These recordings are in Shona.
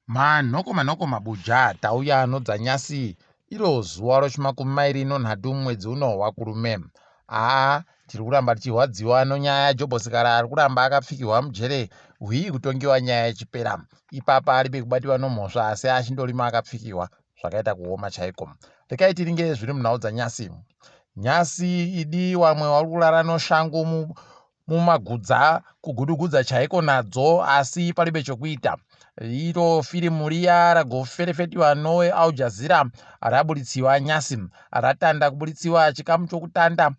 manhoko manhoko mabuja tauya anodza nyasi iro zuva rochimakumi mairi nonhatu mumwedzi uno wakurume haa tiri kuramba tichirwadziwa nonyaya yajobosikara ari kuramba akapfikirwa mujere hwii kutongiwa nyaya yechipera ipapa aribe kubatiwa nomhosva asi achindorima akapfikirwa zvakaita kuoma chaiko rekai tiringe zviri munhau dzanyasi nyasi idi wamwe wari kurara noshangu mumagudza kugudugudza chaiko nadzo asi palibe chokuita iro firimu riya ragoferefetiwa noe aljazira raburitsiwa nyasi ratanda kuburitsiwa chikamu chokutanda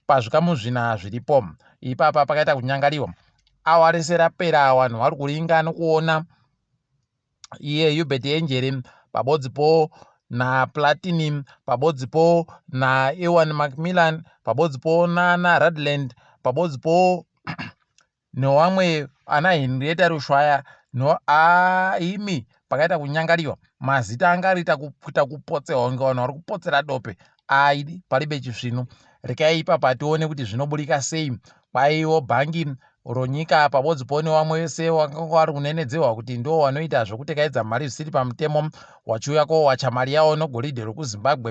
pazvikamu zvina zviripo ipapa pakaita kunyangariwa awa rese rapera vanhu vari kuringa nokuona iye Hubert Enjere pabodzipo naPlatini pabodzipo naEwan Macmillan pabodzipo nana Radland pabodzipo newamwe ana Henrietta Rushwaya no aimi pakaita kunyangariwa mazita anga arita kuita kupotsewa kunge vanhu vari kupotsera dope aidi palibe chisvinu rekai ipapa tione kuti zvinoburika sei kwaiwo bhangi ronyika apa vodzipowo nevamwe vese vakanga vari kunenedzehwa kuti ndiwo wanoita zvekutekaidza mari zvisiri pamutemo wachiuya kowacha mari yawo nogoridhe rekuzimbabwe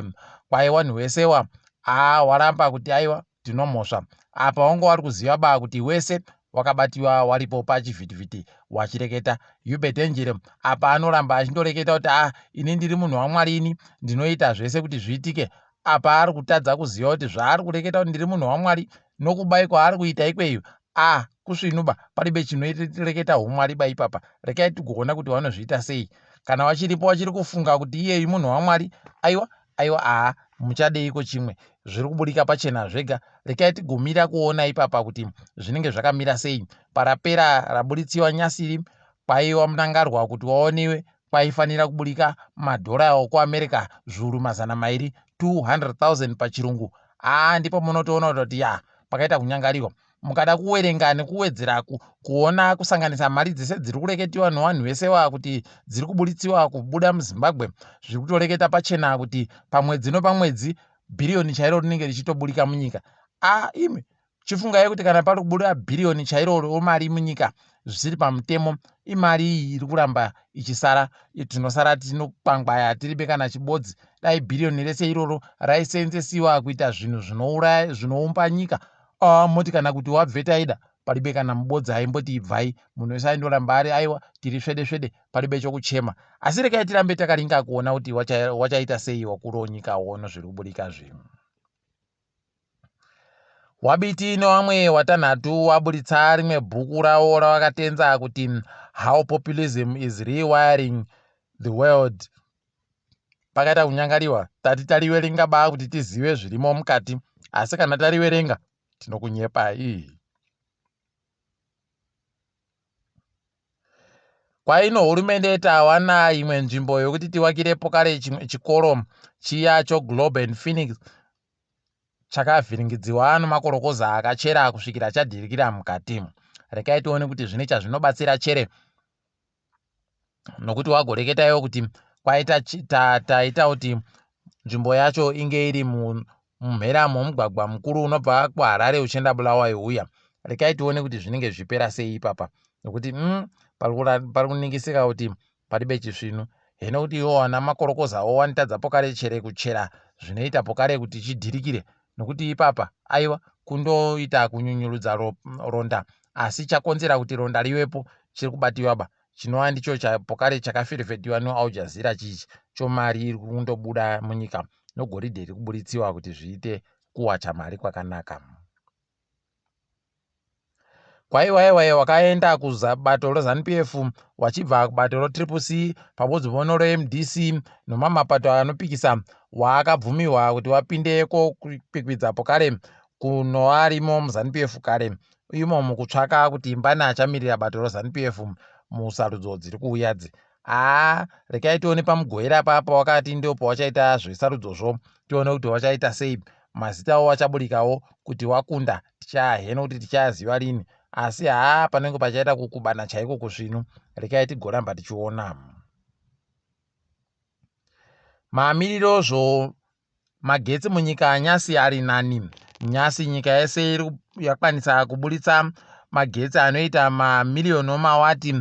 kwaiwa nhuwesewa aa waramba kuti aiwa tinomhosva apa wanga wari kuziva baa kuti wese wakabatiwa waripo pachivhitivhiti wachireketa yube dangere apa anoramba achindoreketa kuti a ah, ini ndiri munhu wamwari ini ndinoita zvese kuti zviitike apa ari kutadza kuziva kuti zvaari kureketa kuti ndiri munhu wamwari nokubai kwaari kuita ikweyo a ah, kusvinuba paribe chinoreketa umwari ba ipapa rekai tigoona kuti vanozviita sei kana wachiripo wachiri kufunga kuti iyeyu munhu wamwari aiwa Aiwa haa muchadeiko chimwe zviri kuburika pachena zvega rekai tigomira kuona ipapa kuti zvinenge zvakamira sei parapera raburitsiwa nyasiri kwaiwa munangarwa kuti waonewe kwaifanira kuburika madhora okuamerica zvuru mazana mairi 200,000 pachirungu haa ndipo munotoona kuti yaa pakaita kunyangarirwa mukada kuwerenga nekuwedzera ku, kuona kusanganisa mari dzese dziri kureketiwa newanhu wese wa kuti dziri kuburitsiwa kubuda muzimbabwe zviri kutoreketa pachena kuti pamwedzi nopamwedzi bhiriyoni chairo rinenge richitoburika munyika a imi chifungai kuti kana pari kubuda bhiriyoni chairo romari munyika zvisiri pamutemo imari iyi iri kuramba ichisara tinosara tinokwangwaya tiribe kana chibodzi dai bhiriyoni rese iroro raiseenzesiwa kuita zvinhu zvinouraya zvinoumba nyika Ah, moti kana kuti wabveta aida palibe kana mubodza aimboti ibvai munhu wese aindoramba ari aiwa tiri svede svede palibe chokuchema asi rekai tirambe takaringa kuona kuti wachaita wacha sei wakuru onyika wono zviri kuburika zvinhu wabiti newamwe watanhatu waburitsa rimwe bhuku ravo ravakatenza kuti how populism is rewiring the world pakaita kunyangariwa tati tariverenga baa kuti tizive zvirimo mukati asi kana tariverenga tinokunyepai kwaino hurumende tawana imwe nzvimbo yokuti tiwakirepo kare chimwe chikoro chiya choglobe and phoenix chakavhiringidziwa nomakorokoza akachera kusvikira chadhirikira mukati rekai tione kuti zvine chazvinobatsira chere nokuti wagoreketa iwo kuti kwaita taita kuti nzvimbo yacho inge iri mumhera momugwagwa mukuru unobva kuharare uchienda bulawai uya rekai tione kuti zvinenge zvipera sei ipapa nokuti mm, pari kuningisika kuti pari bechisvinu heno kuti iwo wana makorokozawo wanitadza pokare chere kuchera zvinoita pokare kuti chidhirikire nokuti ipapa aiwa kundoita kunyunyurudza ro, ronda asi chakonzera kuti ronda rivepo chiri kubatiwaba chinova ndicho pokare chakafirifetiwa neal jazeera chichi chomari iri kundobuda munyika nogoridhe riri kuburitsiwa kuti zviite kuwacha mari kwakanaka kwaiwaiwaye wakaenda kubato rezanupf wachibva kubato retriple c pamodzi vono remdc nomamwe mapato anopikisa waakabvumirwa kuti wapindeko kwikwidzapo kare kunoarimo muzanupf kare imomo kutsvaka kuti mbani achamirira bato rezanupf musarudzo dziri kuuyadzi haa rekai tione pamugoera papa wakati ndio pawachaita zvesarudzozvo tione kuti wachaita sei mazita wo wachaburikawo kuti wakunda tichayaheno kuti tichayaziva lini asi haa panenge pachaita kukubana chaiko kusvinu rekai tigoramba tichiona maamirirozvo Magetsi munyika yaNyasi ari nani. Nyasi nyika yese iri yakwanisa kuburitsa magetsi anoita mamiriyoni omawati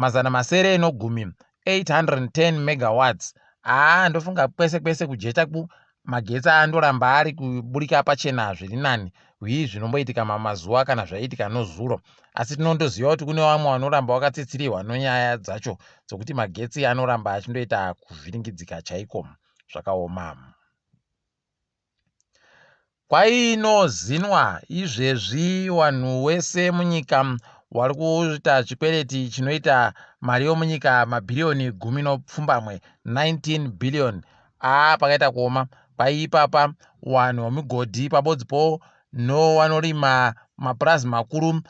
mazana masere enogumi 810 megawatts. Haa ndofunga kwese kwese kujecha ku magetsi andoramba ari kuburika pachena zviri nani hwii zvinomboitika mamazuva kana zvaiitika nozuro asi tinondoziva kuti kune vamwe vanoramba vakatsitsirirwa nonyaya dzacho dzokuti magetsi anoramba achindoita kuvhiringidzika chaiko zvakaoma. Kwainozinwa izvezvi wanhu wese munyika wari kuita chikwereti chinoita mari yomunyika mabhiriyoni gumi nopfumbamwe 19 billion aa pakaita kuoma kwaiipapa wanhu wemigodhi pabodzi po no wanorima mapurazi makuru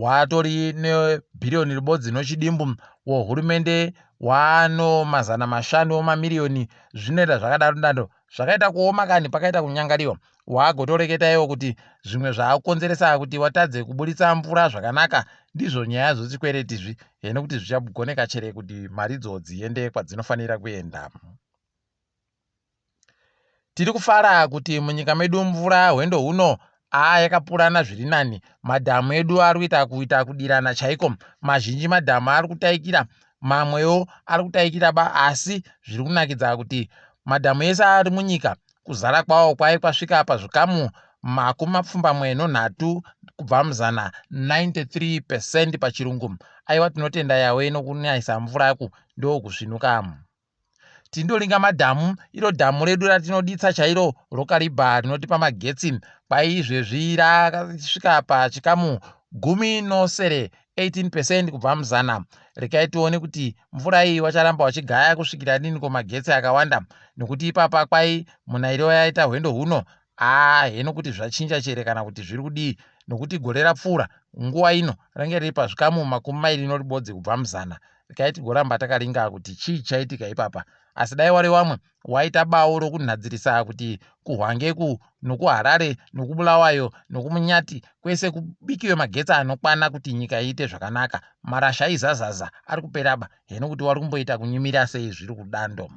Watori nebhiriyoni ribodzi nochidimbu wohurumende waano mazana mashanu omamiriyoni zvinoita zvakadaro dando zvakaita kuoma kani pakaita kunyangariwa waagotoreketa iwo kuti zvimwe zvaakukonzeresa kuti watadze kuburitsa mvura zvakanaka ndizvo nyaya zvochikwereti zvi heno kuti zvichagoneka chere kuti maridzo dziende kwadzinofanira kuenda Tiri kufara kuti munyika medu mvura hwendo huno aa yakapurana zviri nani. Madhamu edu ari kuita kuita kudirana chaiko. Mazhinji madhamu ari kutaikira, mamwewo ari kutaikira ba asi zviri kunakidza kuti madhamu ese ari munyika kuzara kwawo kwave kwasvika pazvikamu makumi mapfumbamwe nonhatu kubva muzana 93 percent pachirungu. Aiwa tinotenda yawe nokunayisa mvura ku ndokusvinuka. Tindolinga madhamu, iro dhamu redu ratinoditsa chairo roKariba rinotipa magetsi kwaizvezvi rakasvika pachikamu gumi nosere 18 percent kubva muzana. Rekai tione kuti mvura iyi wacharamba wachigaya kusvikira riniko magetsi akawanda nokuti ipapa kwai munairiwa yaita hwendo huno Haa heno kuti zvachinja chere kana kuti zviri kudii nokuti gore rapfuura nguva ino range riri pazvikamu makumi mairi noribodzi kubva muzana rikai tigoramba takaringa kuti chii chaitika ipapa asi dai wari wamwe waita bawo rokunhadzirisa kuti kuhwangeku nokuharare nokubulawayo nokumunyati kwese kubikiwe magetsi anokwana kuti nyika iite zvakanaka marasha aizazaza ari kuperaba heno kuti wari kumboita kunyimira sei zviri kudando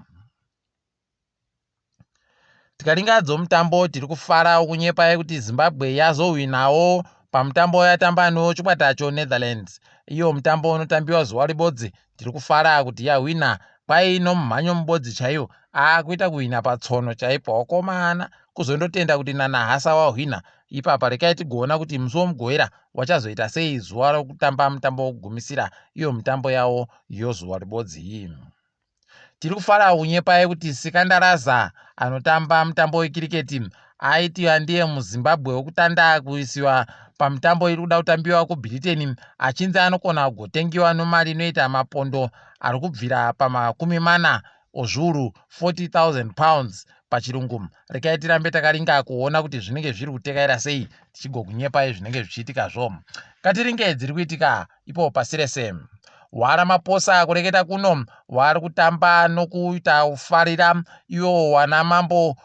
tikaringadzo mutambo tiri kufarawo kunyepa yekuti zimbabwe yazohwinawo pamutambo wayatamba nechikwatacho netherlands iyo mutambo unotambiwa zuva ribodzi tiri kufara kuti yahwina kwai nomumhanyo mubodzi chaiwo akuita kuhwina patsono chaipo wakomana kuzondotenda kuti nanahasa wahwina ipapa rekai tigoona kuti musi womugoera wachazoita sei zuva rokutamba mutambo wokugumisira iyo mitambo yawo yozuva ribodzi iyi Tiri kufara kunyepai kuti Sikandaraza anotamba mutambo wekiriketi aiti andiye muZimbabwe wekutanda kuisiwa pamitambo iri kuda kutambiwa kuBritain achinzi anokona kugotengiwa nomari inoita mapondo ari kubvira pamakumi mana ozviuru 40,000 pounds pachirungu rekai tirambe takaringa kuona kuti zvinenge zviri kutekaira sei tichigokunyepai zvinenge zvichiitika zvo katiringe dziri kuitika ipo pasi rese wara maposa kureketa kuno wari kutamba nokuita ufarira iwo wana mambo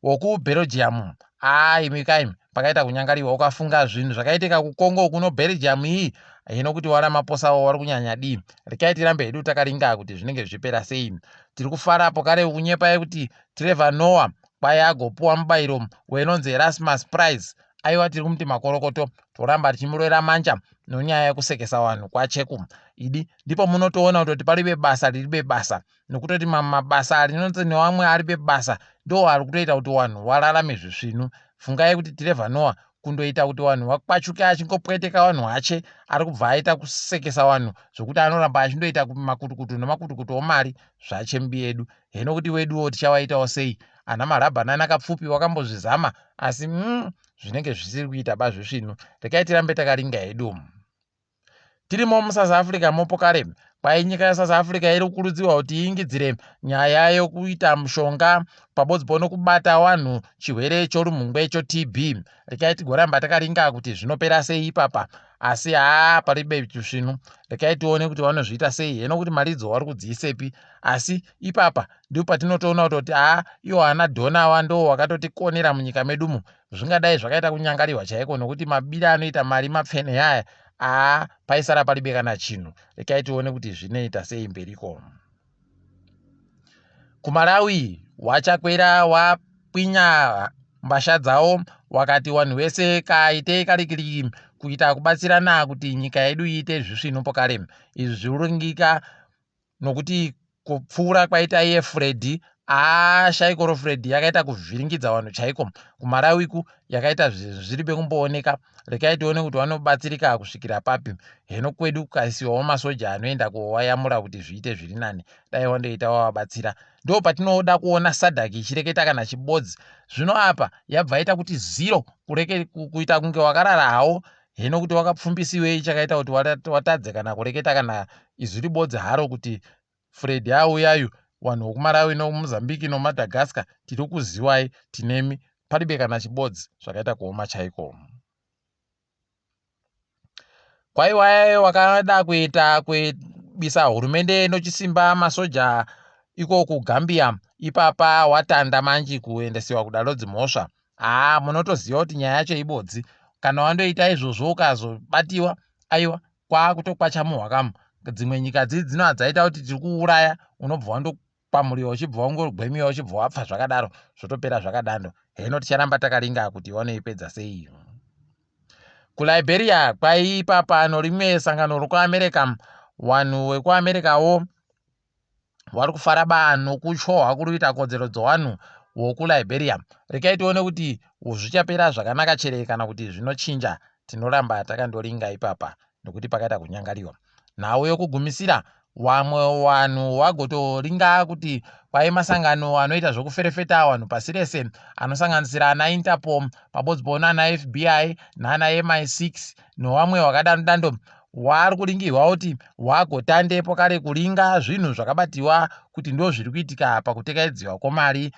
wokubelgium haa imi kai pakaita kunyangariwa ukafunga zvinhu zvakaitika kukongo kuno belgium iyi hino kuti wara maposa wo wari kunyanya dii rekai tirambe hedu takaringa kuti zvinenge zvichipera sei tiri kufara apo kare kunyepa yekuti trevor noah kwaye agopuwa mubayiro wenonzi erasmus prize aiwa tiri kumuti makorokoto toramba tichimurwera manja nonyaya yekusekesa vanhu kwacheku idi ndipo munotoona kutoti pari bebasa riri bebasa nokutoti mamwe mabasa ari noti newamwe ari bebasa ndo ari kutoita kuti vanhu vararame zvisvinu fungai kuti tirevha noa kundoita kuti vanhu vakwachuke achingopweteka vanhu vache ari kubva aita kusekesa vanhu zvekuti anoramba achindoita makutukutu nemakutukutu omari zvache mbi yedu hino kuti weduwo tichawaitawo sei ana marabhanani akapfupi wakambozvizama asi mm, zvinenge zvisiri kuita ba zvisvinu rekai tirambe takaringa hedu tirimo musouth africa mopo kare kwai nyika yesouth africa iri kukurudzirwa kuti iingidzire nyaya yokuita mushonga pabodzbo nokubata wanhu chirwere chorumhungwe chotb rekai tigoramba takaringa kuti zvinopera sei ipapa asi haa paribe chisvinu rekai tione kuti vanozviita sei heno kuti mari idzo vari kudziisepi asi ipapa ndipo patinotoona kutoti haa iwo ana dhona awa ndo wakatotikonera munyika medumo zvingadai zvakaita kunyangarirwa chaiko nokuti mabiri anoita mari mapfene yaya haa paisara paribe kana chinhu rekai tione kuti zvinoita sei mberiko kumalawi wachakwera wapwinya mbasha dzawo wakati wanhu wese kaite kalikili kuita kubatsirana kuti nyika yedu iite zvisvinu pokale izvi zviuringika nokuti kupfuura kwaita iye fredhi ashaikoro fredhi yakaita kuvhiringidza vanhu chaiko kumalawiku yakaita zvinhu zviri bekumbooneka rekai tione kuti vanobatsirika kusvikira papi heno kwedu kukaisiwawo masoja anoenda kowayamura kuti zviite zviri nani dai wandoita wavabatsira ndo patinoda kuona sadak ichireketa kana chibodzi zvino apa yabvaita kuti ziro kureke kuita kunge wakarara hawo hino kuti wakapfumbisiwei chakaita kuti watadze kana kureketa kana izwi ribodzi haro kuti Freddy haa uyayu wanhu wokumarawi no muzambiki no madagascar tiri kuziwai tinemi palibe kana chibodzi zvakaita kuoma chaiko kwaiwaye wakada kuita kuibisa hurumende nochisimba masoja iko kugambia ipapa watanda manji kuendesiwa kudalo dzimhosva haa munotoziva kuti nyaya yacho ibodzi kana wandoita izvozvo ukazobatiwa aiwa kwaakutokwacha muhwakamu dzimwe nyika dzii dzino adzaita kuti tiri kuuraya unobva wandokwamuriwa uchibva wangogwemiwa uchibva wapfa zvakadaro zvotopera zvakadando heno ticharamba takaringa kuti vanoipedza sei kuliberia kwaiipapano rimwe sangano rokuamerica vanhu wekuamericawo vari kufara banhu kutyohwa kuri kuita kodzero dzowanhu wokuliberium rekai tione kuti zvichapera zvakanaka chere kana kuti zvinochinja tinoramba takandoringa ipapa nekuti pakaita kunyangariwa nhau yokugumisira vamwe vanhu vagotoringa kuti kwai masangano anoita zvekuferefeta vanhu pasi rese anosanganisira ana interpol pabodzi poona ana fbi naana mi6 nevamwe vakadano dando waari kuringirwa kuti wagotandepo kare kuringa zvinhu zvakabatiwa kuti ndozviri kuitika pakutekaidziwa kwomari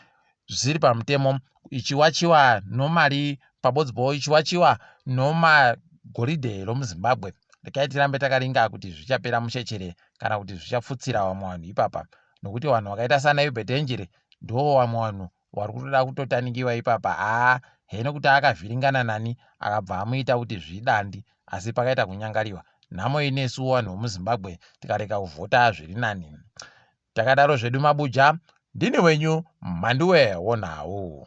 zvisiri pamutemo ichiwachiwa nomari pabodzbo ichiwachiwa nomagoridhe romuzimbabwe rekai tirambe takaringa kuti zvichapera mushechere kana kuti zvichapfutsira vamwe vanhu ipapa nokuti vanhu vakaita sana ubedenjere ndivo vamwe vanhu wari kutoda kutotanikiwa ipapa haa heno kuti akavhiringana nani akabva amuita kuti zvidandi asi pakaita kunyangariwa nhamo inesu wanhu wemuzimbabwe tikareka kuvhota zviri nani takadaro zvedu mabuja ndini wenyu mhanduwe wonhau